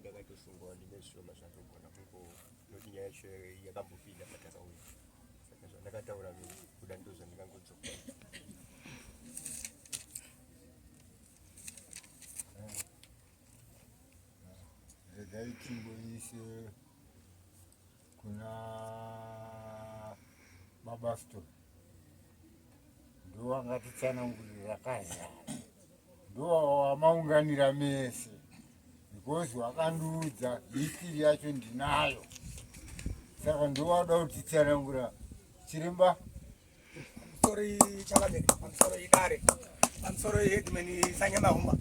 ndakatoshungawo ndimeshoma zvatogona kungo noti nyaya yacho yakambopinda patakauya saka zvandakataura kuda ndo zvandingangodzoka regai timboise kuna baba sto ndowangatitsanangurira kaza ndowawamaunganira mese because wakandiudza history yacho ndinayo saka ndowada kutitsanangura chiremba Sorry, Chalamet. I'm sorry, Dare. I'm sorry, Headman Sanyamahumba.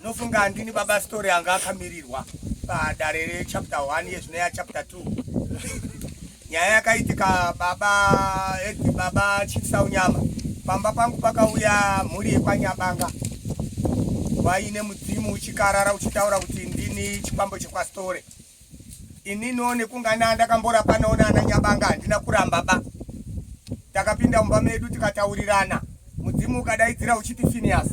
Nofunga ndini baba story anga akamirirwa padare rechapter 1 yezvino yachapter 2 nyaya yakaitika baba edi eh, baba Chisaunyama pamba pangu pakauya mhuri yekwanyabanga vaine mudzimu uchikarara uchitaura kuti ndini chikwambo chekwastore Inini one kungana ndakambora panoona ana nyabanga handina kuramba ba. Takapinda mumba medu tikataurirana. Mudzimu ukadaidzira uchiti Phineas.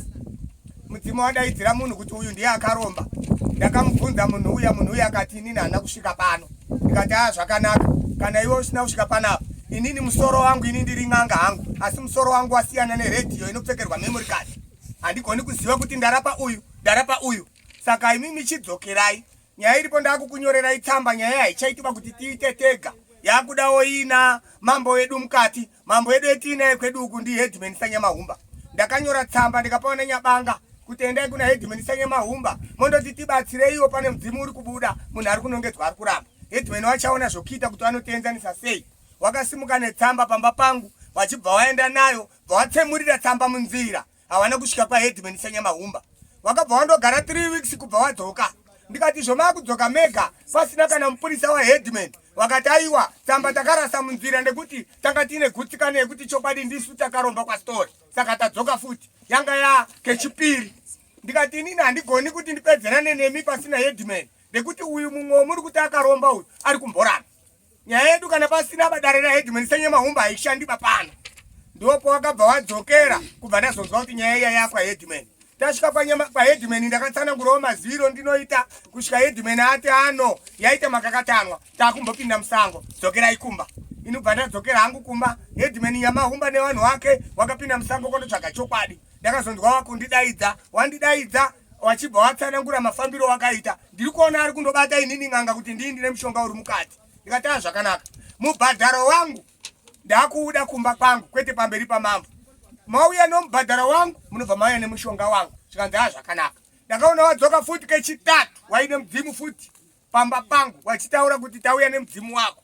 Mudzimu wadaidzira munhu kuti uyu ndiye akaromba. Ndakamubvunza munhu uya munhu uya akati inini hana kusvika pano. Ndikati haa zvakanaka kana iwe usina kusvika panapa inini musoro wangu ini ndiri n'anga hangu asi musoro wangu wasiyana neredhiyo inopfekerwa memory card handigoni kuziva kuti ndarapa uyu ndarapa uyu saka imi michidzokerai nyaya iripo ndakukunyorerai tsamba nyaya haichaitwa kuti tiite tega yakudawo ina mambo wedu mukati mambo wedu etiinaye kwedu uku ndi headman sanyamahumba ndakanyora tsamba ndikapawa nanyabanga kuti endai kuna headman sanyamahumba mondoti tibatsireiwo pane mudzimu uri kubuda munhu ari kunongedzwa ari kuramba headman wachaona zvokuita kuti vanotienzanisa sei wakasimuka netsamba pamba pangu wachibva waenda nayo bva watsemurira tsamba munzira hawana kusvika kwaheadman sanyamahumba wakabva wandogara 3 weeks kubva wadzoka ndikati zvomakudzoka mega pasina kana mupurisa waheadman wakati aiwa tsamba takarasa munzira nekuti tanga tiine gutsikana yekuti chokwadi ndisu takaromba kwastori saka tadzoka futi yanga ya kechipiri ndikati inini handigoni kuti ndipedzerane nemi pasina headman nekuti uyu mumwe womuri kuti akaromba uyu ari kumborana Nyaya yedu kana pasina badare raHeadman Senyama Humba haishandi papana. Ndipo pawakabva wadzokera kubva ndazonzwa kuti nyaya iya yakwa Headman. Tasvika panyama pa Headman ndakatsanangurawo maziviro ndinoita kusvika Headman ati ano yaita makakatanwa takumbopinda musango dzokera ikumba. Inobva ndadzokera hangu kumba Headman Nyama Humba nevanhu wake wakapinda musango kondotsvaga chokwadi. Ndakazonzwa wakundidaidza wandidaidza wachibva watsanangura mafambiro wakaita ndiri kuona ari kundobata inini n'anga kuti ndii ndine mushonga uri mukati ndikataa zvakanaka mubhadharo wangu ndakuuda kumba kwangu kwete pamberi pamambo mauya nomubhadharo wangu munobva mauya nemushonga wangu zvikanzi aa zvakanaka ndakaona wadzoka futi kechitatu waine mudzimu futi pamba pangu wachitaura kuti tauya nemudzimu wako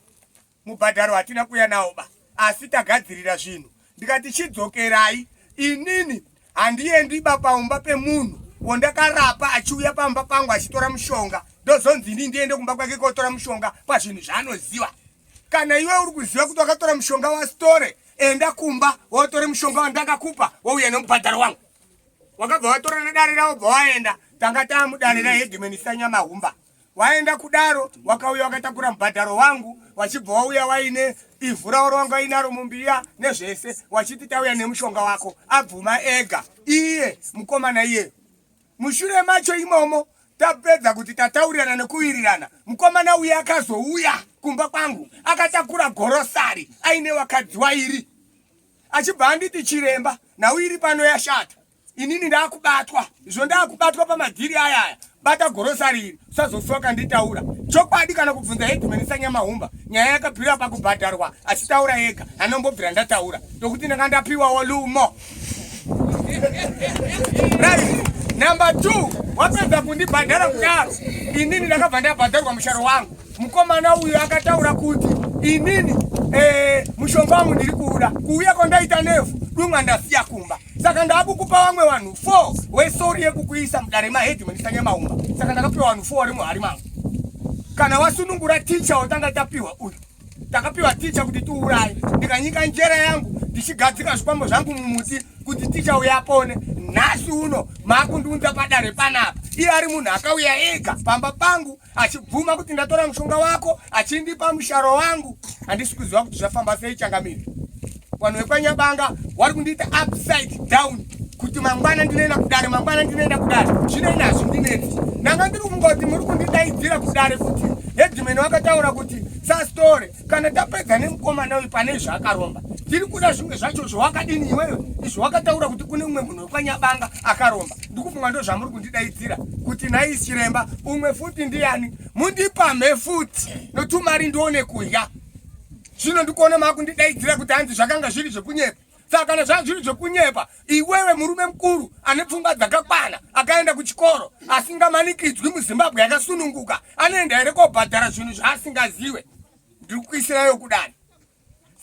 Mubhadharo hatina kuya nawo ba asi tagadzirira zvinhu ndikati chidzokerai inini handiendi ba paumba pemunhu wondakarapa achiuya pamba pangu achitora mushonga ndozonzi ini ndiende kumba kwake kotora mushonga pazvinhu zvaanoziva kana iwe uri kuziva kuti wakatora mushonga wasitore enda kumba wotore mushonga wandakakupa wouya nemubhadharo wangu wakabva watora nedare ravo bva waenda tanga taamudare rehedimeni sanyamahumba waenda kudaro wakauya wakatakura mubhadharo wangu wachibva wauya waine ivhu rauro wanga inaro mumbiya nezvese wachiti tauya nemushonga wako abvuma ega iye mukomana iyeyo mushure macho imomo tapedza kuti tataurirana nekuwirirana mukomana uye akazouya kumba kwangu akatakura gorosari aine wakadzi wairi achibva anditi chiremba nhau iri pano yashata inini ndakubatwa izvo ndakubatwa pamadhiri aya aya bata gorosari iri usazosuwa kanditaura chokwadi kana kubvunza headman sanyamahumba nyaya yakabvira pakubhadharwa achitaura yega anombobvira ndataura tokuti ndanga ndapiwawo lumo right number two wapedza kundibhadhara kudaro inini ndakabva ndabhadharwa musharo wangu mukomana uyu akataura kuti inini eh, mushonga wangu ndiri kuuda kuuya kwandaita nevhu dumwa ndasiya kumba saka ndakukupa vamwe vanhu 4 wesori yekukuisa mudare maheadman sanyamaumba saka ndakapiwa vanhu 4 vari muhari mangu kana wasunungura ticha watanga tapiwa uyu takapiwa ticha kuti tiuraye ndikanyika njera yangu ndichigadzika zvikwambo zvangu mumuti kuti ticha uya apone nhasi uno maakundiunza padare panapa iye ari munhu akauya ega pamba pangu achibvuma kuti ndatora mushonga wako achindipa musharo wangu handisi kuziva kuti zvafamba sei changamire vanhu vekwanyabanga wari kundiita upside down kuti mangwana ndinoenda kudare mangwana ndinoenda kudare zvino ini hazvindinetsi ndanga ndiri kungoti muri kundidaidzira kudare kuti hedhimeni wakataura kuti sastore kana tapedza nemukomana uyu pane zvaakaromba tiri kuda zvimwe zvacho zvawakadini iweyo izvo wakataura kuti kune umwe munhu wekwanyabanga akaromba ndikufunga ndo zvamuri kundidaidzira kuti nhai chiremba umwe futi ndiyani mundipamhe futi notumari ndione kudya zvino ndikuona makundidaidzira kuti hanzi zvakanga zviri zvekunyepa saka kana zvanga zviri zvekunyepa Iwewe murume mukuru ane pfungwa dzakakwana akaenda kuchikoro asingamanikidzwi muzimbabwe yakasununguka anoenda here kobhadhara zvinhu zvaasingaziwe ndiri kuisirayo kudani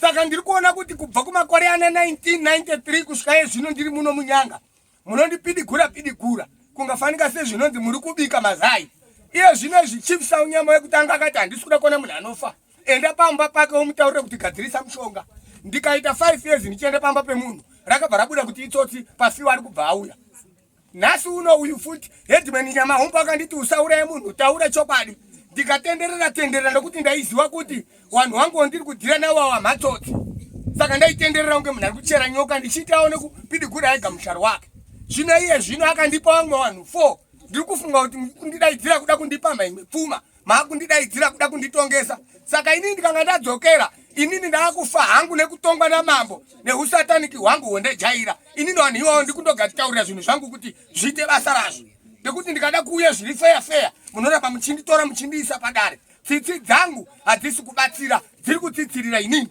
saka ndiri kuona kuti kubva kumakore ana 1993 kusvika ye zvino ndiri muno munyanga munondipidigura pidigura kungafanika sezvinonzi muri kubika mazai iye zvino izvi chief saunyama wekutanga akati handisi kuda kuona munhu anofa enda pamba pake womutaurira kuti gadzirisa mushonga ndikaita five years ndichienda pamba pemunhu rakabva rabuda kuti itsotsi pafiwa ari kubva auya nhasi uno uyu futi hedman nyama hombo akanditi usauraye munhu taura chokwadi ndikatenderera tenderera nekuti ndaiziva kuti vanhu vangu vandiri kudhira navo ava matsotsi saka ndaitenderera kunge munhu ari kuchera nyoka ndichiitawo nekupidigura ega musharo wake zvino iye zvino akandipa vamwe vanhu four ndiri kufunga kuti kundidaidzira kuda kundipamba imwe pfuma makundidaidzira kuda kunditongesa saka inini ndikanga ndadzokera inini ndaakufa hangu nekutongwa namambo nehusataniki hwangu hwondejaira inini vanhu iwawo ndikundogatichaurira zvinhu zvangu kuti zviite basa razvo nekuti ndikada kuuya zviri feya feya munoramba muchinditora muchindiisa padare tsitsi dzangu hadzisi kubatsira dziri kutsitsirira inini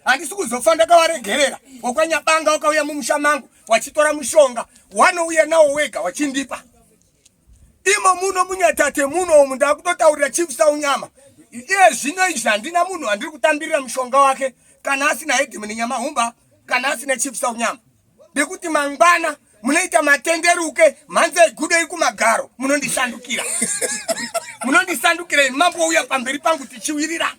handisi kuzofa ndakavaregerera wakwanyabanga wakauya mumusha mangu wachitora mushonga wanouya nawo wega wachindipa imo muno munyatate muno umu ndakutotaurira chief saunyama iye zvino izvi handina munhu andiri kutambirira mushonga wake kana asina hedimini nyamahumba kana asina chief saunyama nekuti mangwana munoita matenderuke mhanza igudei kumagaro munondisandukira munondisandukira ini mambo uya pamberi pangu tichiwirira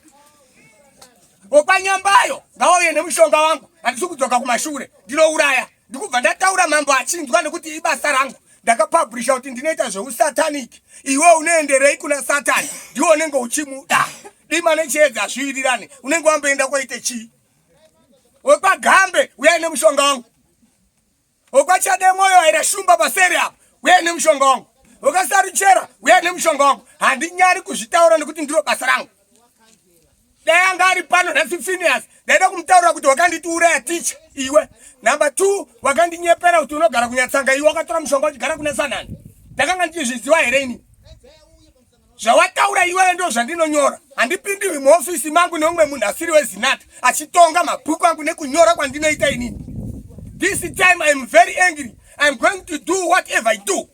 okwanyambayo ngauye nemushonga wangu handisi kudzoka kumashure ndinouraya ndikubva ndataura mambo achinzwa nekuti ibasa rangu ndakapabhurisha kuti ndinoita zveusatanic iwe unoenderei kuna satani ndiwo unenge uchimuda dima nechiedza zviwirirane unenge wamboenda kwaite chii wekwagambe uya ine mushonga wangu wekwachade mwoyo aira shumba paseri apo uya ine mushonga wangu wekasaruchera uya ine mushonga wangu handinyari kuzvitaura nekuti ndiro basa rangu dai anga ari pano nhasi Phineas ndaida kumutaurira kuti wakanditiuraya ticha iwe number two wakandinyepera kuti unogara kunyatsanga iwe wakatora mushonga uchigara kuna sanani ndakanga ndichizviziva here ini zvawataura iwewe ndo zvandinonyora handipindiwi muofisi mangu neumwe munhu asiri wezinata achitonga mabhuku angu nekunyora kwandinoita inini this time iam very angry iam going to do whatever i do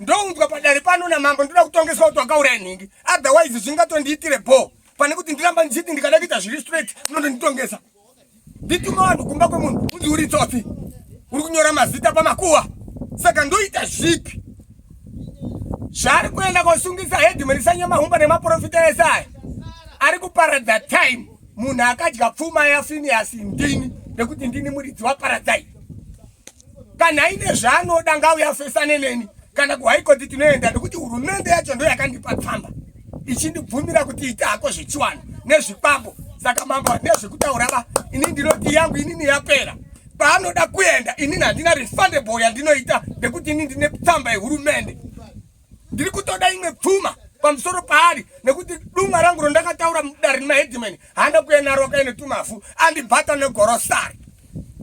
ndounzwa padare pano namambo ndoda kutongeswa kuti wakauraya nhingi otherwise zvingatondiitire bhoo pane kuti ndiramba ndichiti ndikada kuita zviri straight unondonditongesa ndituma vanhu kumba kwemunhu unzi uri tsotsi uri kunyora mazita pamakuwa saka ndoita zvipi zvaari kuenda kosungisa hedimani sanyamahumba nemaprofita ese aya ari kuparadza time munhu akadya pfuma yafiniyasi ndini nekuti ndini muridzi waparadzai kana aine zvaanoda ngauye afesane neni kana kuhaikoti tinoenda nekuti hurumende yacho ndo yakandipa tsamba ichindibvumira kuti ita hako zvechiwani nezvikwambo saka mambo handina zvekutaura va ini ndinoti yangu inini yapera paanoda kuenda inini handina refundable yandinoita nekuti ini ndine tsamba yehurumende ndiri kutoda imwe pfuma pamusoro paari nekuti dumwa rangu rondakataura mudare nemahedimani haana kuya naro akaine tumafu andibhata negorosari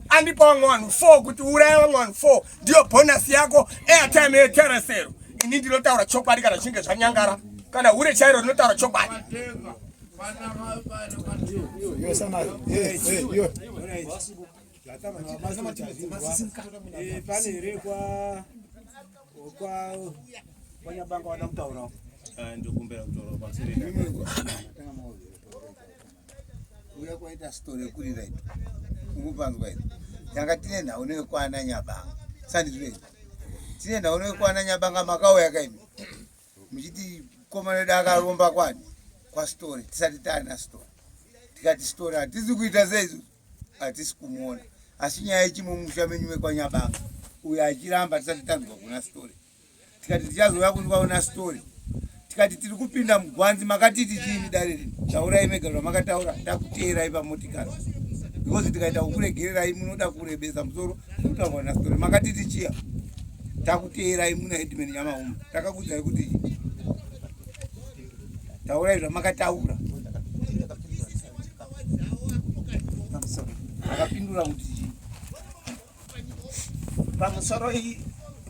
andipa vamwe vanhu four kuti uraya vamwe vanhu four ndiyo bhonasi yako airtime yeteresero ini ndinotaura chokwadi kana zvichinge zvanyangara kana hure chairo rinotaura chokwadi kuuya kwaita story yekurira ito ungupanzwa ito tanga tine nhau newekwana nyabanga sandizvei tine nhau newekwana nyabanga makauya kaimi muchiti komana wedu akaromba kwani kwastory tisati taana story tikati story hatisi kuita seizu hatisi kumuona asi nyaya yechimwe musha menyu mekwanyabanga uyo achiramba tisati tanzwa kuna story tikati tichazouya kundivaona story tikati tiri kupinda mugwanzi makatiti chiini dare rini taurai mega zvamakataura takuteerai pamotikari because tikaita kukuregererai munoda kurebesa musoro kutaurwa na story makatiti chiya takuteerai muna headman nyamauma Ndakakuudzai kuti taurai zvamakataura. Akapindura kuti pamusoro iyi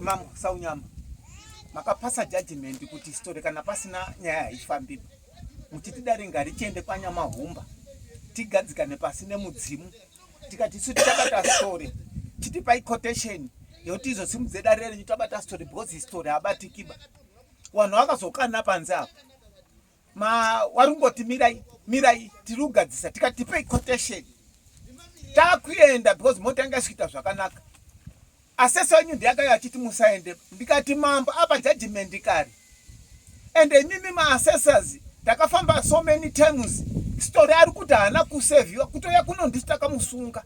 mambo saunyama makapasa judgment kuti story kana pasina nyaya haifambi muchiti dare ngarichiende kwanyamahumba tigadzikane pasi nemudzimu tikati isu tichabata story titipai quotation yekuti izosimudze dare renyu tabata story because history habatikiba vanhu vakazokana panze apo ma wari kungoti mirai mirai tiri kugadzisa tikatipei quotation takuenda because mota yanga isikuita zvakanaka Assessor wenyu ndiye akauya achiti musaende ndikati mambo apa judgment kare and imimi maassessors takafamba so many times story ari kuti haana kuseviwa kutouya kuno ndisi takamusunga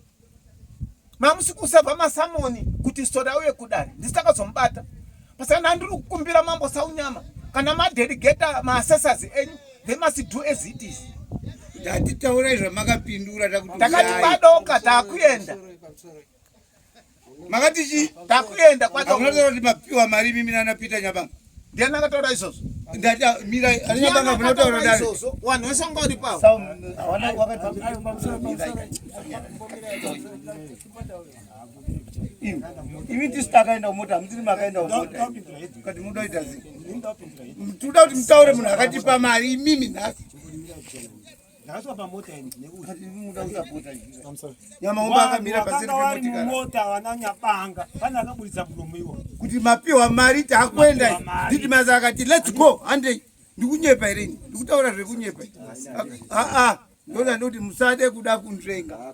mamusi kuseva masamoni kuti story auye kudare ndisi takazomubata pasana andiri kukumbira mambo saunyama kana madelegata maassessors enyu they must do as it is tatitaurai zvamakapindura takati badoka takuenda makati chii takuenda kwacho unotaura kuti mapiwa mari mimi nana peter nyabanga ndiani akataura izvozvo ndati ah, mira ani nyabanga munotaura dai izvozvo wanhu wese wanga uri pavo hawana wakati imi tisu takaenda kumota hamutiri makaenda kumota kati muda kuita zii tinoda kuti mutaure munhu akatipa mari imimi nhasi Ndakasvika pamota ini nekuti ndinoda kusapota izvi. I'm sorry. Nyamaomba akamira paseri Vakanga vari pemotikari. mumota vana nyabanga pane akaburitsa muromo iwo Kuti mapiwa mari takuenda. Mapiwa mari. Did maza akati let's go hande ndikunyepa here ini. Ndikutaura zvekunyepa. Ah ah. Ndoda ndoti musade kuda kunzvenga.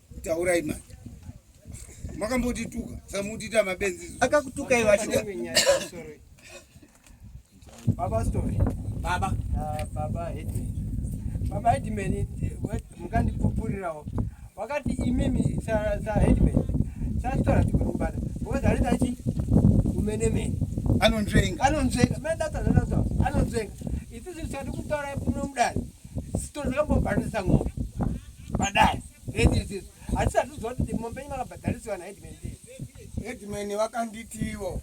Taurai manje. Makambotituka, samutita mabenzi. Akakutuka iwe acho. Baba story. Baba. Ah, baba hedi. Baba hedi meni mukandipupurirawo. Wakati imimi sa sa hedi meni. Sa story tikumbana. Ngozi alita chi umene meni. Anonzvenga. Anonzvenga. Meni data data so. Anonzvenga. Isi zvisati kutaura kuno mudari. Story zakambobhandisa ngoma. padare redzidziso asi satiziva kuti mombe yenyu makabhadharisiwa naheadman headman vakanditiwo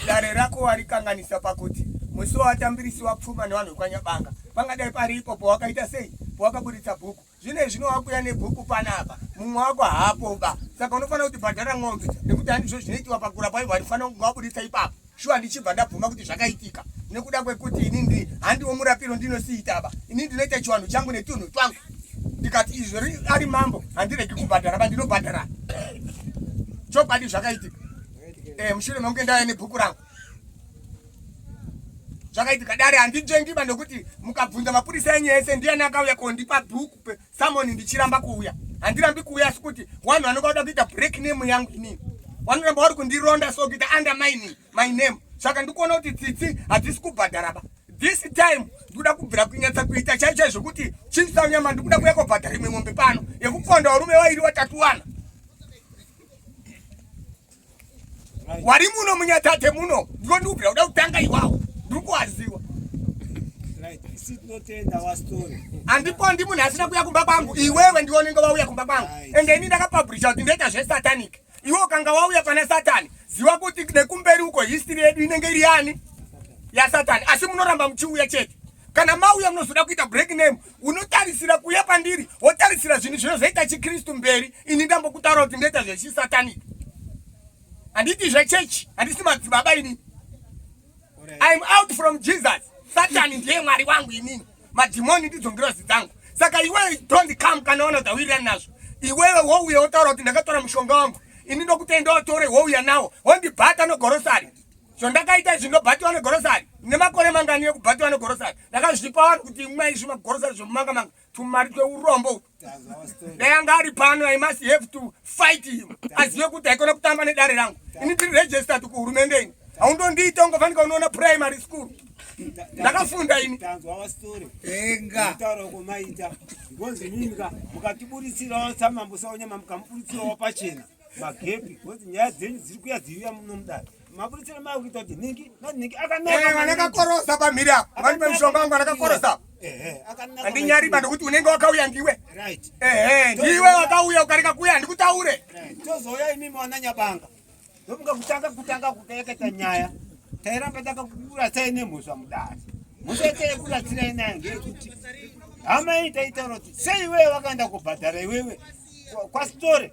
dare rako warikanganisa pakuti musi wawatambirisiwa pfuma nevanhu vekwanyabanga pangadai pari ipo powakaita sei powakaburitsa bhuku zvino izvi nowakuya nebhuku panapa mumwe wako haapo ba saka unofanira kuti bhadhara n'ombe nekuti handizvo zvinoitiwa pakura paivo hatifanira kunge waburitsa ipapo shuwa ndichibva ndabvuma kuti zvakaitika nekuda kwekuti ini ndi handiwo murapiro ndinosiitaba ini ndinoita chiwanhu changu netunhu twangu ndikati izvi ari mambo handiregi kubhadhara ba ndinobhadhara chokwadi zvakaitika eh, mushure mekunge ndauya nebhuku rangu zvakaitika dare handinzvengiba nekuti mukabvunza mapurisa enyu ese ndiyani akauya kondipa bhuku Someone ndichiramba kuuya. Handirambi kuuya asi kuti wanhu vanoka kuda kuita break name yangu inini. Vanoramba vari kundironda so kuita undermining my name. Saka ndikuona kuti tsitsi hadzisi kubhadhara ba. This time ndikuda kubvira kunyatsa kuita chai chai zvekuti chimsa nyama ndikuda kuya kobhadhara imwe mombe pano yekuponda varume vairi vatatu wana. wari muno munyatate muno ndiko ndikubvira kuda kutanga iwawo ndiri kuwaziwa andipo handi munhu asina kuuya kumba kwangu iwewe ndiwo unenge wauya kumba kwangu ende ini ndakapabhurisha kuti ndoita zvesatanic iwe ukanga wauya pana satani ziva kuti nekumberi uko history yedu inenge iri yani yasatani asi munoramba muchiuya chete kana mauya munozoda kuita break name unotarisira kuya pandiri wotarisira zvinhu zvinozoita chikristu mberi ini ndambokutaura kuti ndoita zvechisatanic handiti zvechechi handisi madzibaba ini iam out from jesus satani ndiye mwari wangu inini madhimoni ndidzo ngirozi dzangu saka iwewe don't come kana ona dzawirirani nazvo iwewe wouya wotaura kuti ndakatora mushonga wangu ini ndokutenda watore wouya nawo wondibhata nogorosari zvandakaita izvi ndobatiwa negorosari nemakore mangani ekubatiwa negorosari ndakazvipa vanhu kuti imwa izvi magorosari zvemumanga manga tumari tweurombo dai anga ari pano i must have to fight him azive kuti haikona kutamba nedare rangu ini tiri registered kuhurumende ini haundondiita ungafanika unoona primary school ndakafunda ini mukatiburitsirawo samambo saonyama mukamuburitsirawo pachena magepi kuti nyaya dzenyu dziri kuya dziuya nomudare mapuritsira maya kuita kuti nhingi nanhingi akanaakanakakorosa eh, pamhiri apo vani pamishonga wangu anakakorosa handinyari bado kuti unenge wakauya ndiwe ehe ndiwe wakauya ukareka kuya handikutaure tozouya imimi wana nyabanga ndomuka kutanga kutanga kukaeketa nyaya tairamba takakurasai nemhosva mudare mhosva yataikuratsirai nayo ngeyekuti hama iyi taitaura kuti sei iwewe wakaenda kubhadhara iwewe kwasitore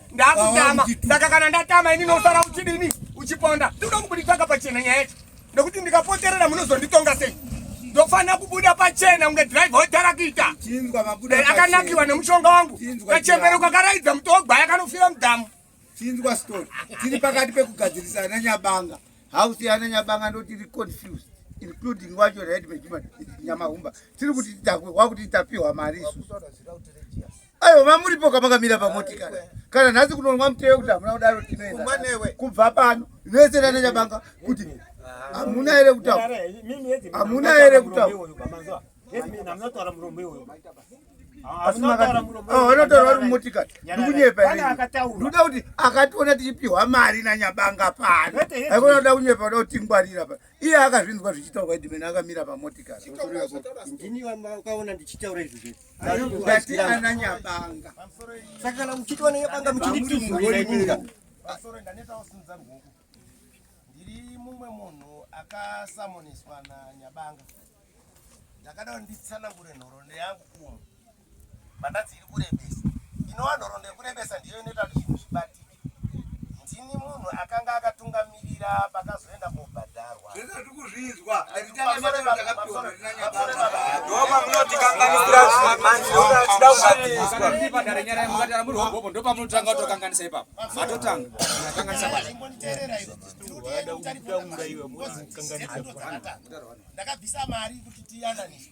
ndakutama saka kana ndatama ini nosara uchidini uchiponda tinoda kubuditsaka pachena nyaya yacho nekuti ndikapoterera munozonditonga sei ndofanira kubuda pachena kunge drive hotarakita eh, akanakiwa nemushonga wangu kachembere kakaraidza muto wogwaya kanofira mudhamu chinzwa story tiri pakati pekugadzirisa ana nyabanga house yana nyabanga ndotiri confused including wacho red mejuman nyamahumba tiri kuti tidakwe wakuti tapiwa mari isu Ayo mamuripo kamakamira pamotikari kana nhasi kunonwa mutee kuti hamuna kudaro tinoenda kubva pano vese nana chabanga kuti hamuna here kutaura hamuna here kutaura anotaura vari mumotikari ndikunyepa ndoda kuti akationa tichipiwa mari nanyabanga pano aikona kuda kunyepa kuda kutingwarira pa iye akazvinzwa zvichitaurwa idimene akamira pamotikari ndiri mumwe munhu akasamoniswa nanyabanga ndakada kuti nditsanangure nhoroondo yangu kumu mandatsi iri kurebesa inova nhoroondo yekurebesa ndiyo inoita kuti zvinhu zvibatike Ndini munhu akanga akatungamirira pakazoenda kobhadharwa. Zvese tiri kuzvinzwa. Ndoma munotikanganisira manje yoda tida kubatiswa. Ndiri padare nyara yemukatara muri hobobo ndopa munotanga kutokanganisa ipapo. Matotanga. Kanganisa basi. Imbonditeerera iwe. Ndinoda kutanga iwe mwana kanganisa. Ndakabvisa mari kuti tiyananise.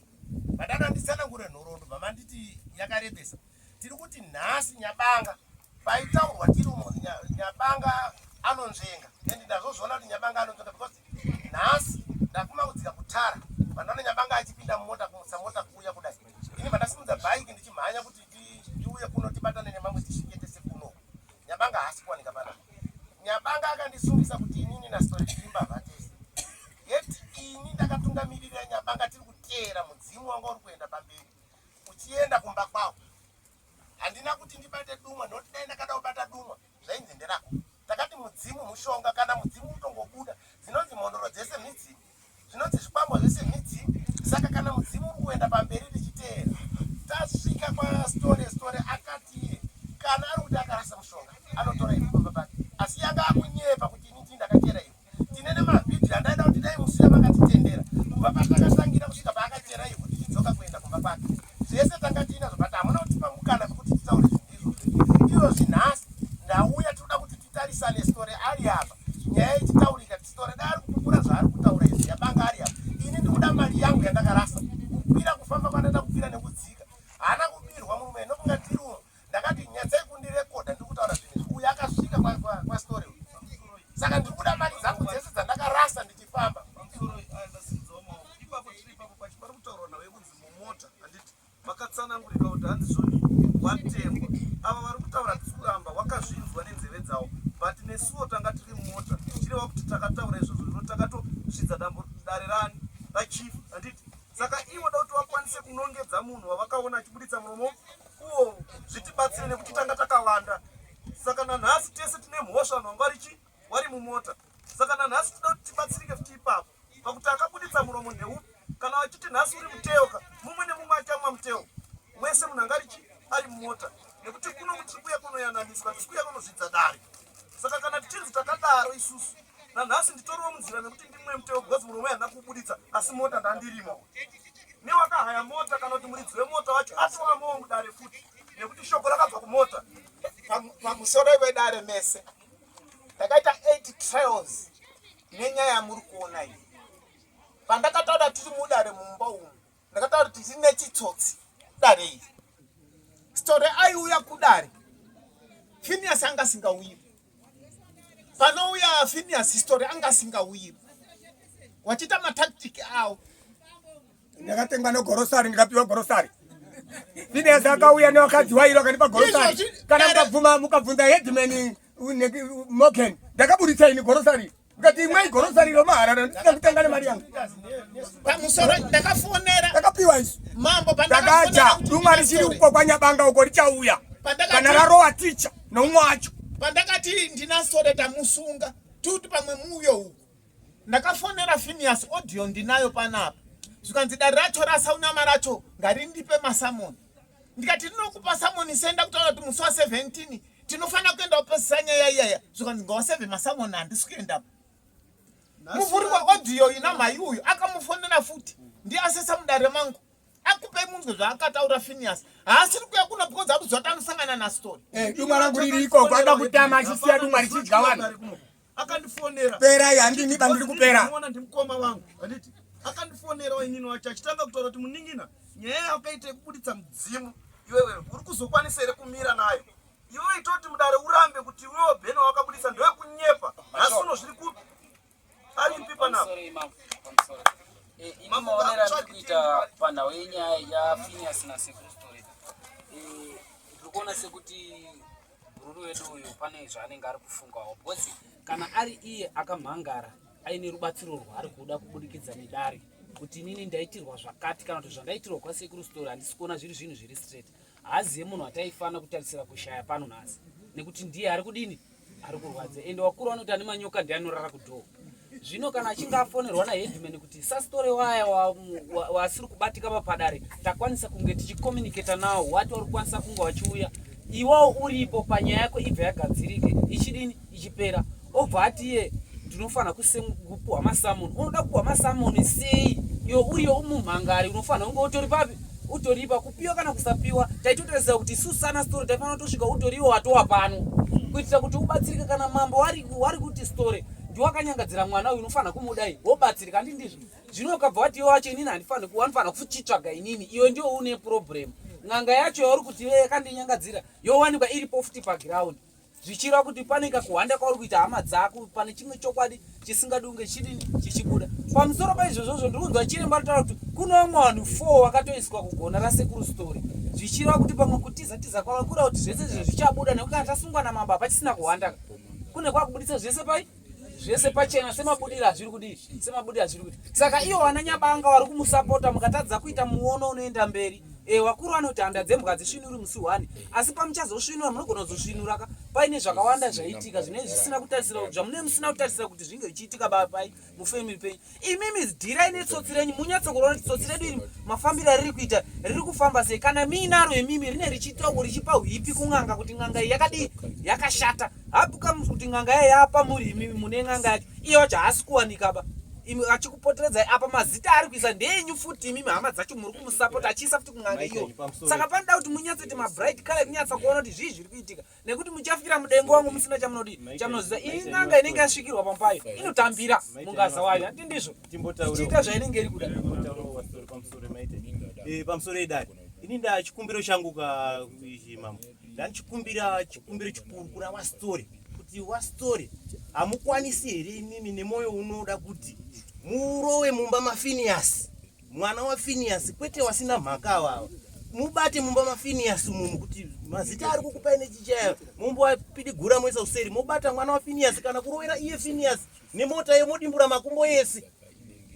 Padana ndisana kure nhorondo bva manditi yakarebesa. tiri kuti nhasi nyabanga paitaurwa tiri umo nyabanga anonzvenga and ndazozviona kuti nyabanga anonzvenga because nhasi ndakuma kudzika kutara vanhu vane nyabanga achipinda mumota kumutsa mota kuuya kudai ini vandasimudza bhaiki ndichimhanya kuti tiuye kuno tibatane nemamwe tisvike tese kuno nyabanga haasi kuwanika pana nyabanga akandisungisa kuti inini nastori tirimbavha tese yet ini ndakatungamirira nyabanga tiri kuteera mudzimu wanga uri kuenda pamberi uchienda kumba kwavo handina kuti ndibate dumwa nokuti dai ndakada kubata dumwa zvainzi nderako takati mudzimu mushonga kana mudzimu utongobuda dzinonzi mhondoro dzese midzimu zvinonzi zvikwambo zvese midzimu saka kana mudzimu uri kuenda pamberi richiteera tasvika kwastore store akati iye kana ari kuti akarasa mushonga anotora iri kumba pake asi yanga akunyepa kuti ini ndii ndakachera iri tine nemavhidhiyo andaida kuti dai musiya vakatitendera kubva patakatangira kusvika paakachera ivo tichidzoka kuenda kumba kwake zvese tanga tiinazvo but hamuna kutipa mukana vekuti titaure zvinhu izvozvo izvozvi nhasi ndauya tinoda kuti titarisane story ari apa nyaya ichitaurika story dai ari kupupura zvaari kutaura izvi yabanga ari apa ini ndikuda mari yangu yandakarasa kukwira kufamba kwandaida kukwira nekudzika haana kubirwa murume nokunga tiri ndakati nyatsai kundirekodha ndiri kutaura zvinhu izvi uyu akasvika kwastory uyu saka ndiri kuda mari dzangu dzese dzandakarasa ndichifamba makatsanangurika kuti handizvoni watengwa ava vari kutaura tisi kuramba wakazvinzwa nenzeve dzawo but nesuwo tanga tiri mumota tichireva kuti takataura izvozvo zvino takatosvidza dambo dare rani rachief handiti saka ivo da kuti vakwanise kunongedza munhu wavakaona achibuditsa muromo Ko zvitibatsire nekuti tanga takawanda. Saka nanhasi tese tine mhosva vanhu vanga varichi wari mumota. Saka nanhasi tinoda kuti tibatsirike futi ipapo. Pakuti akabuditsa muromo ndeupi kana vachiti nhasi uri muteoka mumwe nemumwe achamwa muteo wese munhu anga arichi ari mumota nekuti kuno kutiri kuya kunoyananiswa tisi kuya kunozvidza dare. saka kana tichinzi takadaro isusu nanhasi nditoriwo munzira nekuti ndimwe muteo because murume haana kubuditsa asi mota ndandirima newakahaya mota kana kuti muridzi wemota wacho atovamowo mudare futi nekuti shoko rakabva kumota pamusoro vedare mese takaita eight trials nenyaya yamuri kuona iyi pandakataura tiri mudare mumba umu ndakataura kuti rine chitsotsi dare iri story aiuya kudare finias anga asingauyiwi panouya finias story anga asingauyiwi wachiita matactic awo ndakatengwa negorosari ndikapiwa gorosari finias akauya nevakadzi wairo akandipa gorosari kana mukabvuma mukabvunza headman morgan ndakaburitsa ini gorosari Ngati imwe grocery ro maharara ndisina kutenga nemari yangu. Pamusoro ndakafonera. Ndakapiwa isu. Mambo pandakacha. Duma risiri uko kwanyabanga uko richauya. Kana rarowa ticha noumwe wacho. Pandakati ndina sore tamusunga. Tuti pamwe muuyo uko. Ndakafonera Phineas audio ndinayo panapa. Zvikanzi dare racho rasaunama racho ngarindipe masamoni. ndikati ndinokupa samoni senda kutaura kuti musi wa 17 tinofanira kuenda kupesisa nyaya iyaya zvikanzi ngawa 7 masamoni handisi kuendapo muvhuri weaudio ina mhai uyu akamufonera futi ndiye asesa mudare mangu akupei munzwe zvaakataura finias haasiri kuya kuno because akuziva kuti anosangana nastory eh, duma rangu riri ikoko ada kutama achisiya duma richidya vanhu akandifonera pera yandini bandiri kupera muona ndimukoma wangu anditi akandifonera wainini wacho achitanga kutaura kuti muningina nyaya yakaita yekubuditsa mudzimu iwewe uri kuzokwanisa here kumira nayo iwewe itoti mudare urambe kuti iwewo bheno wakabudisa ndowekunyepa nhasi uno zviri kupi aripi panapa eh, ini maonero ari kuita panhau yenyaya yafiniyasi nasekuru story eh, ndiri kuona sekuti Mururi wedu uyu pane zvaanenge ari kufungawo because kana ari iye akamhangara aine rubatsiro rwaari kuda kubudikidza nedare kuti inini ndaitirwa zvakati kana kuti zvandaitirwa kwasekuru story handisi kuona zviri zvinhu zviri straight haazive munhu ataifanira kutarisira kushaya pano nhasi nekuti ndiye ari kudini ari kurwadza ende wakuru vanoti ane manyoka ndiye anorara kudhoo zvino kana achinge afonerwa naheadman kuti sasitore waya wasiri kubatika papadare takwanisa kunge tichicommunicata nawo wati wari kukwanisa kunge wachiuya iwawo uripo panyaya yako ibva yagadzirike ichidini ichipera obva ati iye ndinofanira kupuhwa masamoni unoda kupuhwa masamoni sei iyo uriyo umumhangari unofanira kunge utori papi utoripa kupiwa kana kusapiwa taitotarisira kuti isu sana story taifanira kutosvika utoriwo watowa pano kuitira kuti ubatsirike kana mambo wari wari kuti story ndiwakanyangadzira mwana uyu unofanira kumudai wobatsirika handi ndizvo zvino ukabva wati iwe wacho inini handifanira wanofanira kuchitsvaga inini iwe ndiwo une problem n'anga yacho yauri kuti iwe yakandinyangadzira yowanikwa iripo futi paground zvichireva kuti pane kakuhwanda kwauri kuita hama dzako pane chimwe chokwadi chisingadi kunge chidini chichibuda pamusoro paizvozvozvo ndiri kunzwa chiremba ritaura kuti kune vamwe vanhu four vakatoiswa kugona rasekuru story zvichireva kuti pamwe kutiza tiza kwava kuda kuti zvese izvi zvichabuda nekuti kana tasungwa namambo hapachisina kuhwanda kune kwakubuditsa zvese pai zvese pachena semabudiro azviri kudii semabudiro azviri kuti saka ivo vana nyabanga vari kumusapota mukatadza kuita muono unoenda mberi e, wakuru vanoti handa dzembwa dzisvinuri musi one asi pamuchazosvinura munogona kuzosvinuraka paine zvakawanda zvaitika zvinee zvisina kutarisira kuti zvamunee musina kutarisira kuti zvinge zvichiitika bapai mufamily penyu imimi zidirai netsotsi renyu munyatso kuona kuti tsotsi redu iri mafambiro ariri kuita riri kufamba sei kana miinaro imimi rine richitawo richipa hwipi kun'anga kuti n'anga iyi yakadii yakashata hapuka kuti n'anga yayo yapa muri imimi mune n'anga yacho iyo wacho haasi kuwanikaba imi achikupoteredzai apa mazita ari kuisa ndeenyu futi imimi hama dzacho muri kumusapota achiisa futi kun'anga iyo saka panoda kuti munyatsoti mabright kale kunyatsa kuona kuti zvii zviri kuitika nekuti muchafikira mudengo wangu musina chamunodi chamunoziva iyi n'anga inenge yasvikirwa pampayo inotambira mungaza wayo ati ndizvo ichiita zvainenge iri kuda eh, pamusoro edari ini nda chikumbiro changu ka mambo ndandichikumbira chikumbiro chikuru kuna wastori kuti wastori hamukwanisi here imimi nemwoyo unoda kuti murowe mumba mafiniyasi Mwana waFiniyasi kwete wasina mhaka awawa. Mubate mumba maFiniyasi mumu kuti mazita ari kukupai nechichaya mumba wapidigura mwese useri mobata mwana waFiniyasi kana kurovera iye Finiyasi nemota yemodimbura makumbo yese.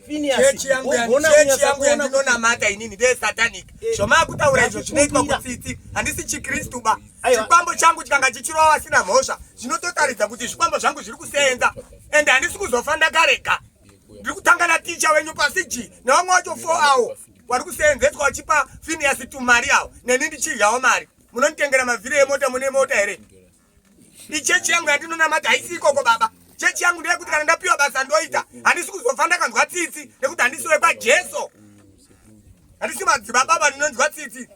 Chechi yangu yangu ndinonamata inini ndeye satanic eh, zvomaakutaura izvo zvinoitwa kutsitsi handisi chikristu ba chikwambo changu chikanga chichirova vasina mhosva zvinototaridza kuti zvikwambo zvangu zviri kusenza ende handisi kuzofa ndakarega ndiri kutanga naticha wenyu pasiji nevamwe wacho fo awo wari kuseenzeswa wachipa finiasi tumari awo neni ndichidyawo mari munonditengera mavhiri emota mune mota here ichechi yangu yandinonamata haisi ikoko baba chechi yangu ndeyekuti kana ndapiwa basa ndoita handisi kuzofa ndakanzwa tsitsi nekuti handisi wekwajesu handisi madzibaba ava ndinonzwa tsitsi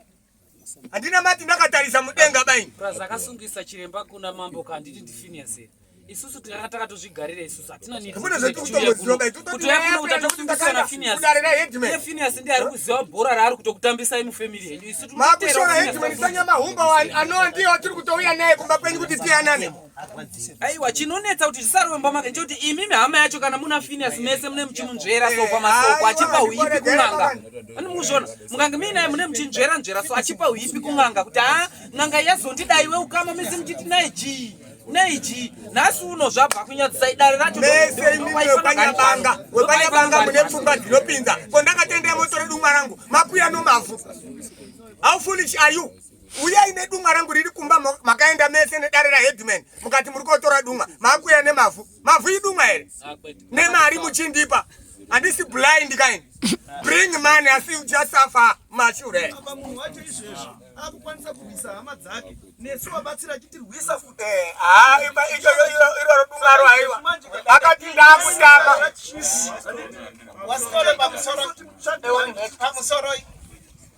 Handina mati ndakatarisa mudenga baini. Plus akasungisa chiremba kuna mambo kanditi ndiFinias here. Isusu tikanga takatozvigarira isusu hatina need. Hamuna zvati kutongoziva baini. Kutoya kuno utatosungisa na Finias. Kudarira headman. Ye Finias ndiye ari kuziva bhora raari kutokutambisa imi family yenyu. Isusu tinoteera. Makushora headman sanya mahumba wani. Anoa ndiye watiri kutouya naye kumba kwenyu kuti tiyanane. aiwa chinonetsa kuti zvisarwe mumba make nchekuti imimi hama yacho kana muna finias mese mune muchimunzvera so pamasoko achipa uipi kun'anga ani mukuzviona mukange muinaye mune muchinzvera nzvera so achipa uipi kun'anga kuti haa n'anga yazondidai we ukama mese muchiti naye chii neiji nhasi uno zvabva kunyadzisa idare racho mese imimi wekwanyabanga wekwanyabanga mune pfungwa dzinopinza ko ndakatendea motoredu mwarangu makuya nomavhu how foolish are you uyai nedunga rangu riri kumba makaenda mese nedare raheadman mukati muri kotora dunga makuya nemavhu mavhu idunga here ah, nemari muchindipa handisi blind kaini bring money asi uchasafa mashure akukwanisa kurwisa hama dzake nesu vabatsira chitirwisa futi eh, ah, iroro dungaro aiwa akati ndakutama wasikole pamusoro pamusoro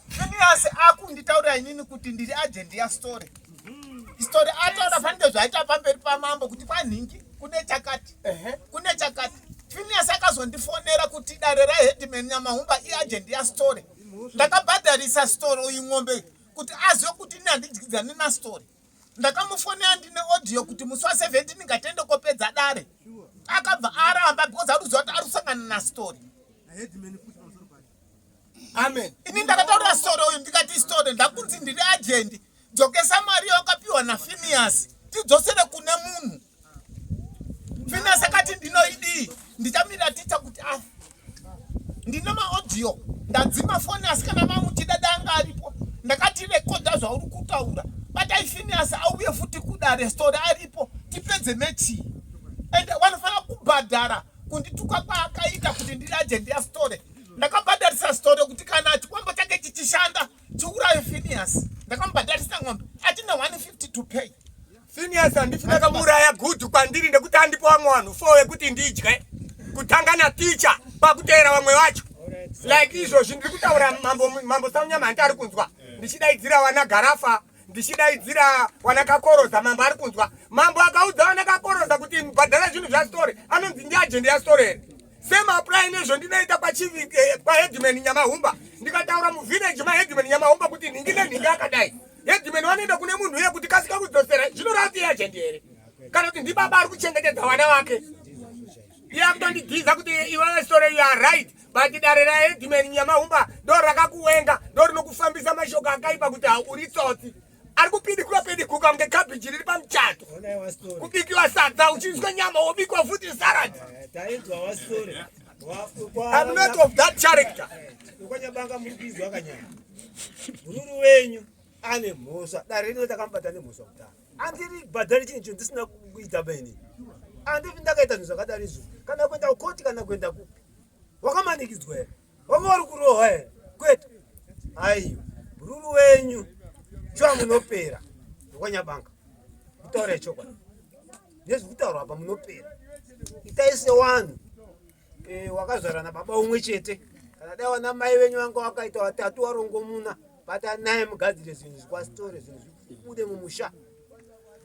Phineas akunditaurira inini kuti ndiri agent ya story. Story ataura fanike zvaita pamberi pamambo kuti kwanhingi kune chakati. Kune chakati. Phineas akazondifonera kuti dare ra headman Nyamahumba i agent ya story. Ndakabhadharisa story uyu ng'ombe kuti azive kuti ini handidyidzani na story. Ndakamufonera ndine audio kuti musi wa 17 ndingatende kopedza dare. Akabva aramba because ari kuziva kuti ari kusangana na story. amen ini ndakataura story uyu ndikati story ndakunzi ndiri ajendi dzokesa mari yawakapiwa nafiniyasi tidzosere kune munhu finiyasi akati ndinoidii ndichamira ticha kuti a ah, ndine maaudio ndadzima foni asi kana mamuchida danga aripo ndakati rekodha zvauri kutaura batai finiyasi auye futi kudare story aripo tipedze mechii ende wanofanira kubhadhara kundituka kwaakaita kuti ndiri agent yastore ndakamubhadharisa store kuti kana chikwambo chake chichishanda chiuraye finias ndakamubhadharisa ng'ombe achine 150 to pay finias handisi ndakamuuraya gudhu kwandiri ndekuti andipo vamwe vanhu fo wekuti ndidye kutanga naticha pakuteera vamwe vacho like izvozvi ndiri kutaura mambo saunyama hanti ari kunzwa ndichidaidzira vana garafa ndichidaidzira wanakakoroza mambo ari kunzwa mambo akaudza wanakakoroza kuti mbhadhara zvinhu zvasitore anonzi ndiajende yasitore here semapurayi nezvo ndinoita kwaheadman eh, nyamahumba ndikataura muvhineji maheadman nyamahumba kuti nhingi nenhingi akadai headman wanoenda kune munhu uye kuti kasika kudzosera zvinorava kuti iajende here kana kuti ndibaba ari kuchengetedza vana vake iye akutondigiza kuti iwe sitore you are right but dare raedman nyamahumba ndo rakakuwenga ndo rinokufambisa mashoko akaipa kuti hauri tsotsi ari kupidikura pedikuka kunge kabhiji riri pamuchato kubikiwa sadza uchinzwa nyama wobikwa futi sarad eh, I'm not of that character ukwanyabanga muri kuizwa kanyama mururu wenyu ane mhosva dare rino takamubata nemhosva kutanga andiri bhadhari chinhu chinhu ndisina kuita maini andivi ndakaita zvinhu zvakadari izvo kana kuenda kukoti kana kuenda kupi wakamanikidzwa here wanga wari kurohwa here kwete aiyo ruru wenyu shuwa munopera ndokwanyabanga kutaura yechokwadi nezvikutaurwa apa munopera itai sewanhu e, wakazvarana baba umwe chete kana dai wana mai venyu vanga wakaita watatu warongomuna bata naye mugadzire zvinhu zvikwasitore zvinhu zvibude mumusha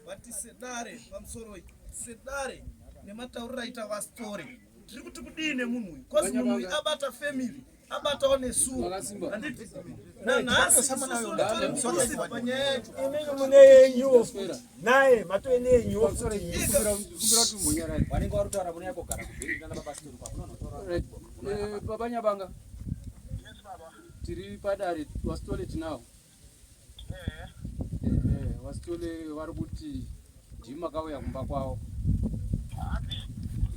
vati sedare pamusoro sedare nematauriro aita vasitore tiri kuti kudii nemunhu uyu bcause munhu uyu abata family abatawo nesuwo handiti nanhasi panyaya yacho imini mune yenyuwo naye matove neyenyuwo vanenge varutaura mune yakogara baba nyabanga tiri padare wasitolet now vasitole vari kuti ndii makauya kumba kwavo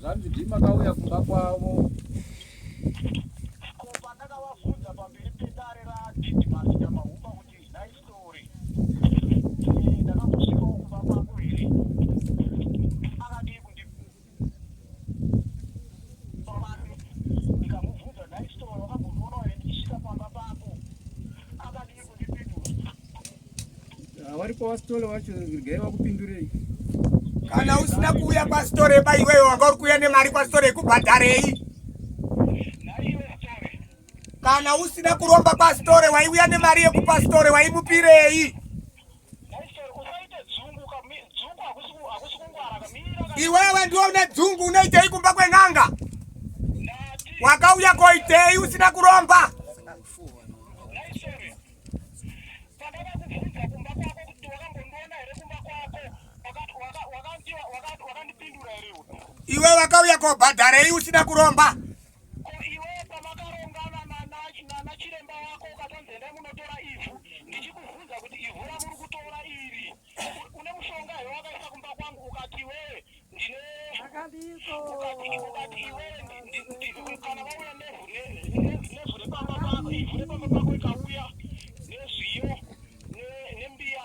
zvanzi ndii makauya kumba kwavo vari kwavasitore vacho regai vakupindurei kana usina kuuya kwasitore ba iwewe wanga uri kuuya nemari kwasitore yekubhadharei kana usina kuromba kwasitore waiuya nemari yekupasitore waimupirei Iwewe ndiwe une dzungu unoitei kumba kwen'anga? Wakauya koitei usina kuromba? Iwe wakauya kobhadharei usina kuromba? Ko iwe pamakarongana nana chiremba wako ukatonzi endai munotora ivhu ndichikubvunza kuti ivhu ramuri kutora iri une mushonga here wakaisa kumba kwangu ukati iwewe ndine ukati iwewe kana vauya nevhu nevhu repamba pako ivhu repamba pako ikauya nezviyo nembiya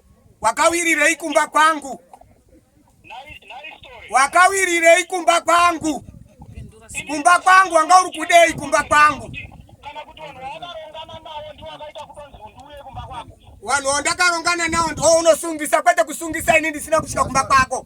Wakawirirei kumba kwangu? Wakawirirei kumba kwangu? Kumba kwangu wanga uri kudei kumba kwangu? Vanhu wandakarongana nawo ndiwo unosungisa kwete kusungisa ini ndisina kusvika kumba kwako.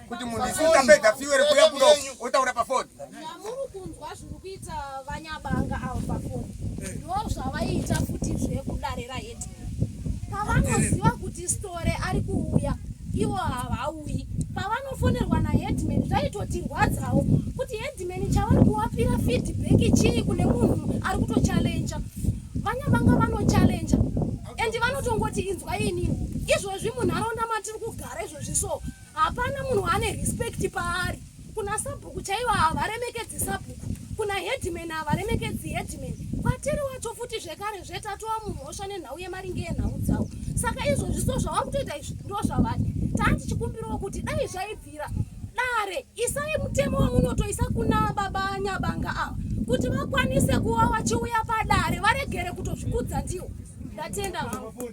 kuti munhu isi utapedza fuel kuya kuno otaura pafoni namuri kunzwa zviri kuita vanyabanga avo pafoni ndo zvavaiita futi zvekudarira hedi pavanoziva kuti store ari kuuya ivo havauyi pavanofonerwa naheadman zvaitotirwadzawo kuti headman chavari kuwapira feedback chii kune munhu ari kutochallenja vanyabanga vanochallenja and vanotongoti inzwa inini izvozvi munharaunda matiri kugara izvozvi so hapana munhu ane respect paari kuna sabhuku chaivo havaremekedzi sabhuku kuna headman havaremekedzi headman kwatiri wacho futi zvekare zvetatova mumhosva nenhau yemaringe yenhau dzavo saka izvozvi so zvava kutoita izvi ndo zvavadi taa tichikumbirawo kuti dai zvaibvira dare isai mutemo wamunotoisa kuna baba nyabanga ava kuti vakwanise kuva vachiuya padare varegere kutozvikudza ndiwo ndatenda hangu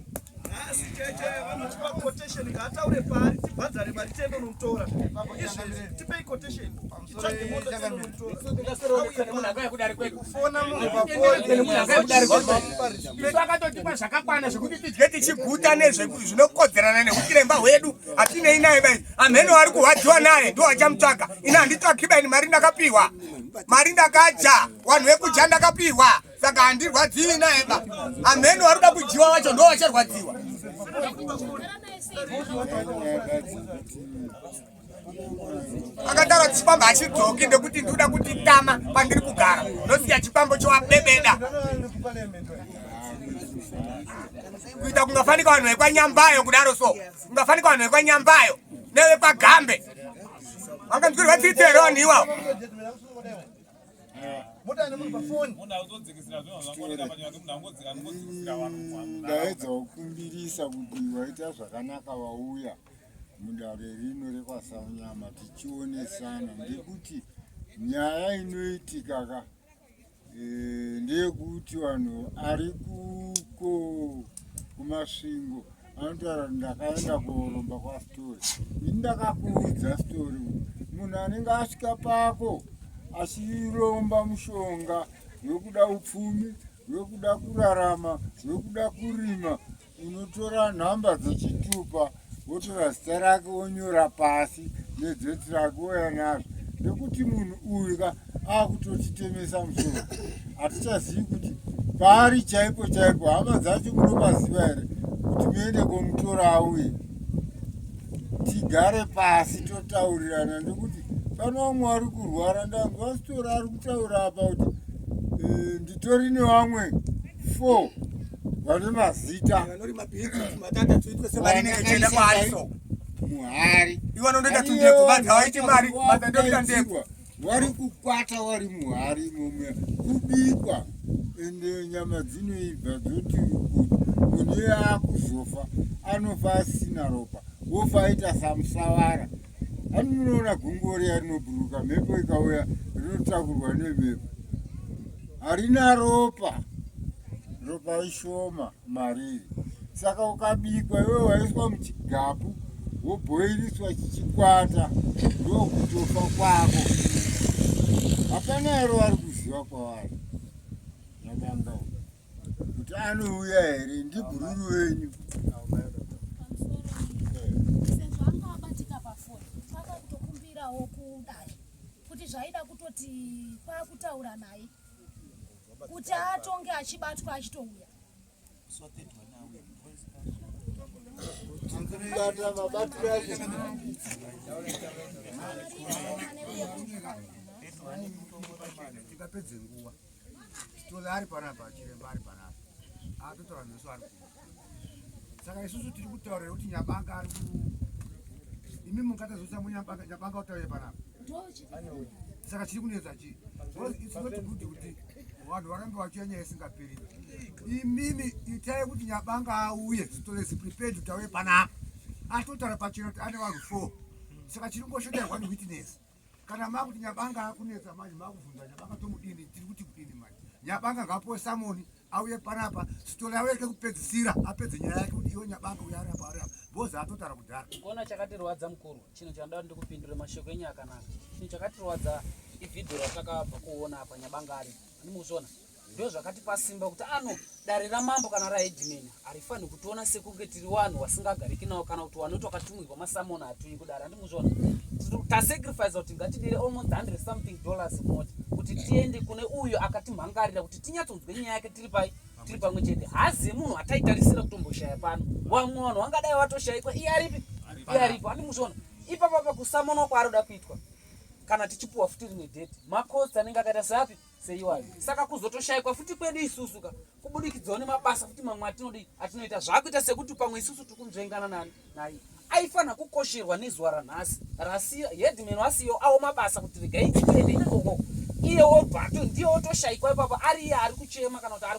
nhasi cheche vanotipa quotation ngaataure paari tibhadhare mari tiende unomutora izvezvi tipei quotation tsvage mota tiende unomutoraakatotipa zvakakwana zvekuti tidye tichiguta nezvinokodzerana neuchiremba hwedu hatinei naye bai amheno ari kurwadziwa naye ndo achamutsvaga ini handitsvaki baini mari ndakapiwa mari ndakadya wanhu wekudya ndakapiwa saka handirwadziwi naye ba amheni waruda kudyiwa wacho ndo wacharwadziwa akataura chikwambo hachidzoki ndekuti ndikuda kuti tama pandiri kugara ndosiya chikwambo chowabebeda kuita kungafanika vanhu vekwanyambayo kudaro so kungafanika vanhu vekwanyambayo nevepagambe vanganzwirwa tsitsi here vanhu iwawo mota ane munhu pafoni ndaedza kukumbirisa kuti waita zvakanaka wauya mudare rino rekwasaunyama tichionesana ndekuti nyaya inoitika ka e, ndeyekuti vanhu ari kuko kumasvingo anotaura ndakaenda kuromba kwasitori ini ndakakuudza sitori munhu anenge asvika pako achiromba mushonga wekuda upfumi wekuda kurarama wekuda kurima unotora nhamba dzechitupa wotora zita rake wonyora pasi nedzeti rake woya nazvo nekuti munhu uyu ka akutotitemesa musoro hatichazivi kuti paari chaipo chaipo hama dzacho munopaziva here kuti muende komutora auye tigare pasi totaurirana nekuti pane vamwe vari kurwara ndangu vasitora ari kutaura apa kuti eh, nditori nevamwe four vane mazita muhari ivo vanondoita tundeko vadhavaite mari vadhandoita ndeko wari kukwata wari muhari momwe kubikwa ende nyama dzinoibva dzoti kuti munhu iye akuzofa anofa asina ropa wofa aita samusavara ani munoona gungo riya rinoburuka mhepo ikauya rinotakurwa nemhepo harina ropa ropa ishoma mariri saka ukabikwa iwe waiswa muchigapu wobhoiriswa chichikwata ndokutofa kwako hapana ero vari kuziva kwavari madanga kuti anouya here ndibhururu wenyu kuti zvaida kutoti kwakutaura naye kuti atonge achibatwa achitouya tikapedze nguva titole ari panapa chiremba ari panapa atotora meso ari kuda saka isusu tiri kutaurira kuti nyabanga ari imi mungatazvisa munyabanga nyabanga utaure panapa saka chiri kunetsa chii isinotibuti kuti vanhu varambe vachiya nyaya isingaperi imimi itai kuti nyabanga auye zitolesi prepared kuti auye panapa atotaura pachino kuti ane vanhu four saka chiri ngoshoterwa newitness kana makuti nyabanga akunetsa manje makuvhunza nyabanga tomudini tiri kuti kudini manje nyabanga ngapuwe samoni auye panapa sitori yavo yake kupedzisira apedze nyaya yake kuti iwe nyabanga uya ari apa ari apa bozi atotara kudhara kuona chakatirwadza mukuru chinhu chandaa ndikupindure mashoko enyu akanaka chinhu chakatirwadza ivhidhio ratakabva kuona apa nyabanga ari ani mukuzviona ndozvakatipa simba kuti ano dare ramambo kana raedimeni harifani kutiona sekunge tiri vanhu wasingagariki nawo kana kuti wanoti wakatumwirwa masamona hatuyi kudare handimuzvona tasacrifice kuti ngatidire almost 100 something dollars mota kuti tiende kune uyo akatimhangarira kuti tinyatsonzwe nyaya yake tiri pai tiri pamwe chete hazi munhu hataitarisira kutomboshaya pano wamwe vanhu vangadai vatoshayikwa iye aripi iye aripo handimuzvona ipapapa kusamonwa kwaari kuda kuitwa kana tichipuwa futi rimwe date macost anenge akaita seapi seiwayo saka kuzotoshaikwa futi kwedu isusu ka kubudikidzawo nemabasa futi mamwe atinodii atinoita zvakuita sekuti pamwe isusu tiri kunzvengana nani naye aifanira kukosherwa nezuva ranhasi rasiya headman wasiyo awo mabasa kuti regai tiende ikoko iye wobvato ndiye wotoshaikwa ipapo ari iye ari kuchema kana kuti ari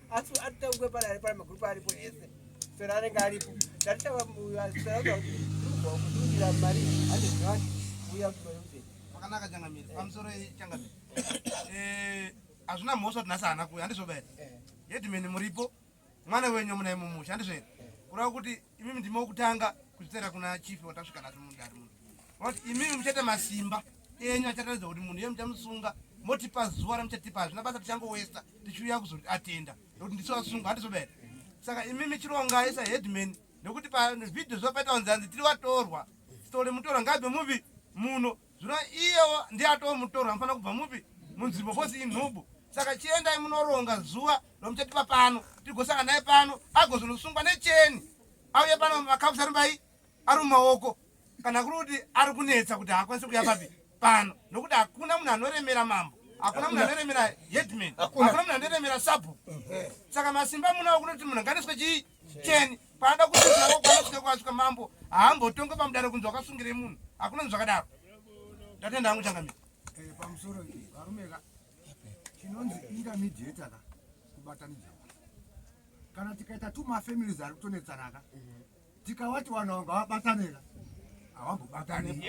asi atitauke pari ari pari magrupu aripo ese sera anenge aripo tatitaura sera kuti ruva kududira mari hande zvinati uya kumayoze akanaka changamire pamusoro changamire eh, hazvina mhosva kuti nhasi haana kuya handizvo bae hedimeni eh. muripo mwana wenyu muna imo musha handizvo here kurava kuti imimi ndime wokutanga kuzvitera kuna chifi watasvika nasi mundari muno vati imimi muchaita masimba enyu achataridza kuti munhu iye muchamusunga motipa zuva ramuchatipa hazvina basa tichangowesta tichiuya kuzoti atenda nokuti ndiso asunga handizoda here saka imimi chirongai saheadman nekuti pavhidhio zviva paita kunzi hanzi tiri vatorwa sitore mutorwa ngaibve mupi muno zvino iyewo ndiye atoo mutorwa anofanira kubva mupi munzvimbo kosi inhubu saka chiendai munoronga zuva romuchatipa pano tigosanga naye pano agozonosungwa necheni auye pano makafusarimbai ari mumaoko kana kuri kuti ari kunetsa kuti haakwanisi kuya papi pano nokuti hakuna munhu anoremera mambo hakuna munhu anoremera headman hakuna munhu anoremera sabhu saka masimba munawo kunoti munhu nganeswe chii cheni paada kuiao kwanosvika kwasvika mambo haambotonge pamudare kunzi wakasungirei munhu hakuna ni zvakadaro ndatenda hangu changamira eh, pamusoro varumeka chinonzi intermediator ka kubatanidza kana tikaita two mafamilies ari kutonetsanaka tikavati vanhu ava ngavabatanira havambobatani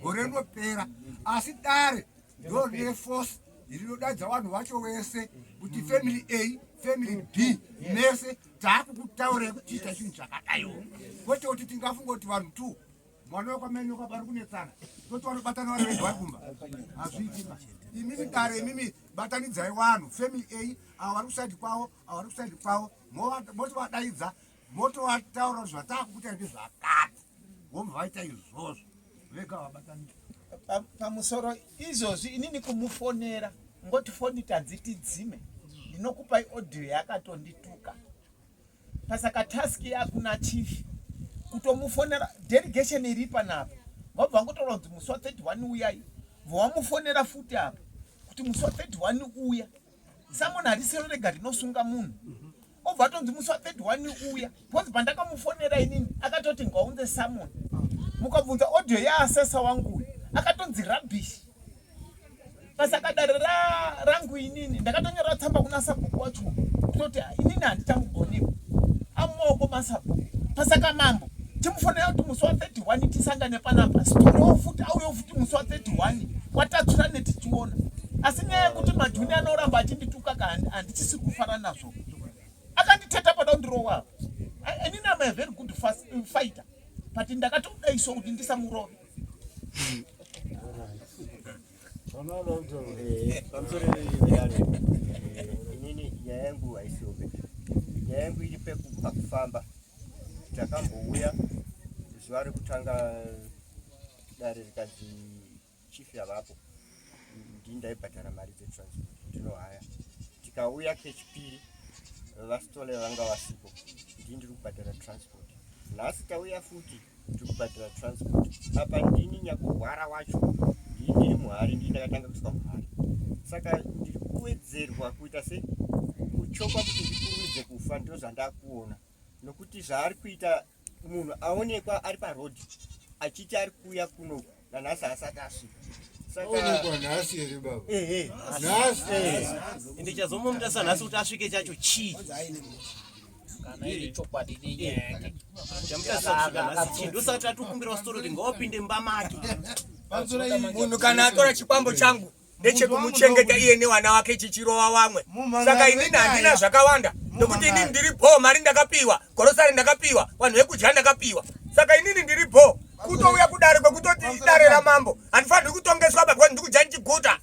gore rinopera asi dare ndiro rine force rinodadza vanhu vacho vese kuti mm. family a family b mese taakukutaurei kuti ita chinhu chakadaiwo kwete kuti tingafunga kuti vanhu two mwana wekwamene kwapari kunetsana toti vanobatana vari vega vari kumba hazviitima imimi dare imimi batanidzai vanhu family a avo vari kusaidi kwavo avo vari kusaidi kwavo moti vadaidza motovataura zvatakuita ndi zvakati vomva vaita izvozvo vega vabatanira pamusoro izvozvi inini kumufonera ngoti foni tadziti dzime ndinokupai audio yakatondituka pasaka task yakuna chief kutomufonera delegation iri panapa vabva ngotaura kuti musi wa 31 uyai vowamufonera futi apa kuti musi wa 31 uya samona harisero rega rinosunga munhu mm -hmm. obva atonzi musi wa 31 uya because pandakamufonera inini akatoti ngaunze samon mukabvunza audio yaasesa wangu akatonzi rubbish basa kadare rangu inini ndakatonyora tsamba kuna sabhuku wacho kutoti inini handichamugoniwa amumaoko masabhuku pasaka mambo timufonera kuti musi wa 31 tisangane panapa siturewo futi auyewo futi musi wa 31 watatsura netichiona asi nyaya yekuti majuni anoramba achindituka ka handichisiri kufara nazvo to akanditeta pada kundirowa apa ini am a very good fast uh, fighter but ndakatodaiswa kuti ndisamurove inini nyaya yangu haisiombe nyaya yangu iri pakufamba takambouya zuva rekutanga dare rikazi chief yavapo ndini ndaibhadhara mari dzetransport ndinohaya tikauya kechipiri vasitole vanga vasipo ndini ndiri kubhadhara transport nhasi tauya futi ndiri kubhadhara transport apa ndini nyakurwara wacho ndii ndiri muhari ndii ndakatanga kuiswa muhari saka ndiri kuwedzerwa kuita se kuchokwa kuti ndikurumidze kufa ndozvandakuona nokuti zvaari kuita munhu aonekwa ari paroad achiti ari kuuya kuno nanhasi haasati asvika ende chazomuita sanhasi kuti asvike chacho chii ndosati atokumbirwa sitori kuti ngaopinde mumba make munhu kana atora chikwambo changu ndechekumuchengeta iye nevana vake chichirova vamwe saka inini handina zvakawanda nokuti inini ndiri bho mari ndakapiwa gorosari ndakapiwa vanhu vekudya ndakapiwa saka inini ndiri bho kutouya kudare kwekutoti idare ramambo handifanirwi kutongeswa bakwa ndikudya ndichiguta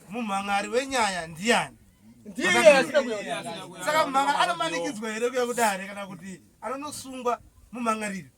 mumhangari wenyaya ndiani saka mumhangari anomanikidzwa here kuya kudare kana kuti anonosungwa mumhangariri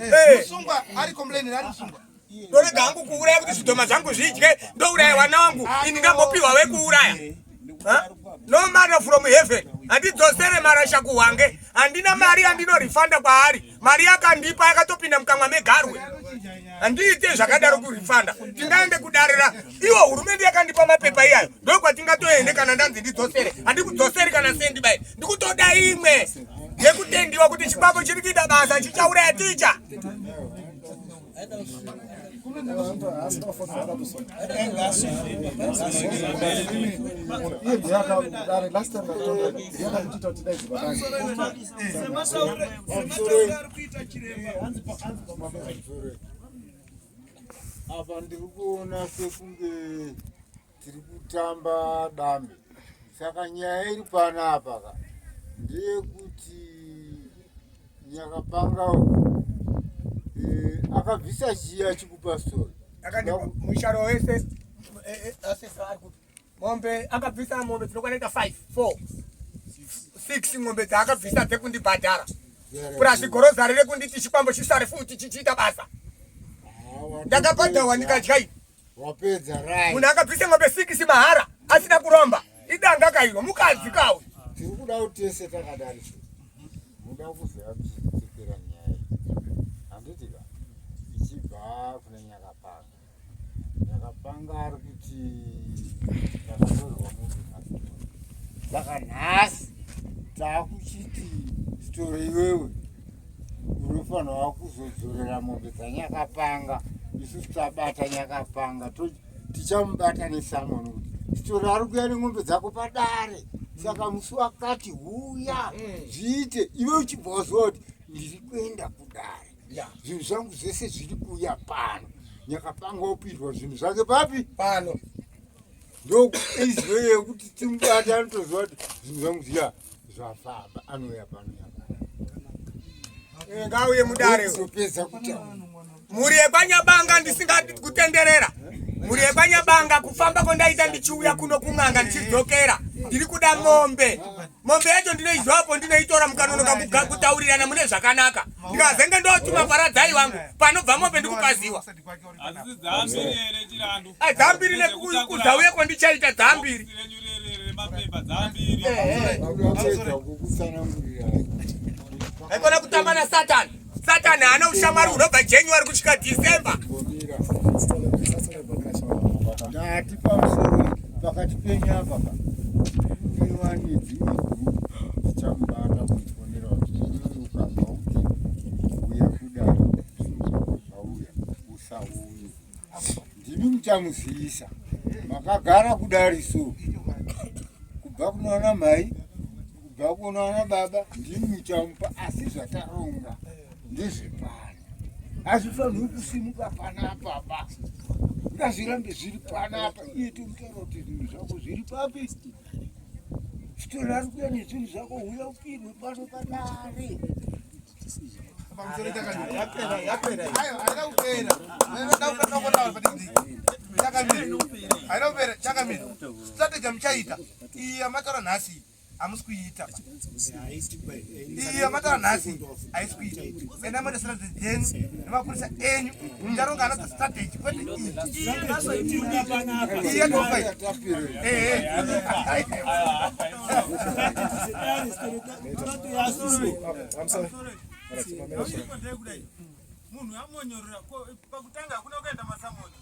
Eh. Musungwa ari complain ari musungwa. Ndorega hangu kuuraya kuti zvidhoma zvangu zvidye ndouraya wana wangu ini ndambopiwa wekuuraya. No matter from heaven handidzosere marasha kuhwange handina mari yandinorifanda kwaari mari yakandipa yakatopinda mukamwa megarwe handiite zvakadaro kurifanda tingaende kudarira iwo hurumende yakandipa mapepa iyayo ndoikwatingatoende kana ndanzi ndidzosere handikudzoseri kana sendi bai ndikutoda imwe yekutendiwa kuti chibako chiri kuita basa chichauraya ticha apa ndiri kuona sekunge tiri kutamba dambe saka nyaya iri pana apa ka ndeyekuti nyakapanga eh, akabvisa chiya chikupa stori akandibva musharo wese eh, eh, asesa ari kuti Mombe akabvisa mombe tinokwana ita 5 4 6 ngombe dzaakabvisa dzekundibhadhara purazi gorozari rekunditi chikwambo chisare futi chichiita basa ndakabhadhawa ndikadya iyi munhu akabvisa ngombe 6 mahara asina kuromba idanga kairo mukadzi kawo tiri kuda kuti tese takadari muda kuziva kuchitikira nyaya handitika ichibva kune nyakapanga ndakapanga ari kuti ndakatorwa munhu saka nhasi taakuchiti sitoro iwewe unofanirwa kuzodzorera mombe dzanyakapanga isu tabata nyakapanga tichamubata nesamoni kuti sitoro ari kuya nen'ombe dzako padare saka musi wakati huya mm. zviite iwe uchibva waziva kuti ndiri kuenda kudare ya zvinhu zvangu zvese zviri kuuya pano nyakapanga opirwa zvinhu zvake papi pano ndoizwe yekuti timubati anotoziva kuti zvinhu zvangu zviya zvafamba anouya pano eh, ngauye mudare zopedza kutaura mhuri yekwanyabanga ndisingadi kutenderera mhuri yekwanyabanga kufamba kwandaita ndichiuya kuno kun'anga ndichidzokera ndiri kuda mombe mombe yacho ndinoizwapo ndinoitora mukanonoka kutaurirana mune zvakanaka ndikazenge ndotuma paradzai vangu panobva mombe ndikupaziwa dzambiri nekuzauye kwandichaita dzambiri aikona kutamba nasatani Satan haana ushamwari hunobva January kusvika December. Ndati pamusoro pakati penyu apa pa. Iwani dzimwe dzichamubata kuifonera kuti ukabva uti uya kudaro zvauya usauye. Ndimi muchamuziisa. Makagara kudari so. Kubva kunoona mai kubva kuno ana baba ndini muchamupa asi zvataronga ndezvepano hazvifaniri kusimuka panapa ba ngazvirambe zviri panapa iye tomutaura kuti zvinhu zvako zviri papi sitoni ari kuya nezvinhu zvako huya upirwe pano padare chakamira chakamira strategy muchaita iya mataura nhasi hamusi kuiita iyo matara nhasi haisi kuita enda moresera dzedzenu nemapurisa enyu ndaronga hana dzestrategy kwete iya tofa munhu amonyorora pakutanga hakuna kuenda masamoni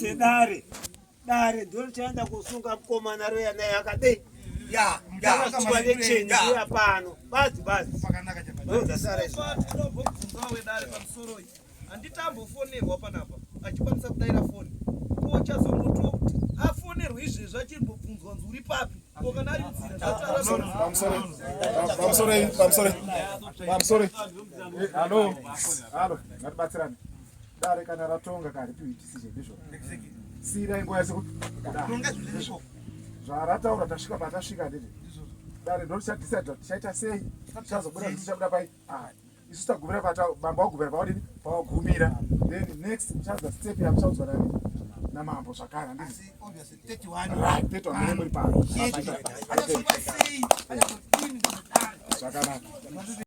sedare dare ndiro chaenda kusunga mukomana roya naye akadei yaakusuwa necheni iya pano bazi bazi ndozasara izvo handitambofonerwa panapa achikwanisa kudaira foni ko chazongotiwo kuti afonerwe izvezvi achimbobvunzwa nzi uri papi ko kana ari mzira zvataraaamsoreamsoreamsoreamsore halo halo ngatibatsirane dare kana ratonga kari tiuitisizve ndizvo siirai nguva yese zvarataura tasvika patasvika ndizvo dare ndorichatisa tichaita sei tichazobuda tichabuda pai Ah, isu tagumira pata bamba wagumira pawadini pawagumira then next muchadza step yamuchaudzwa nani namambo zvakare handisi zvakanaka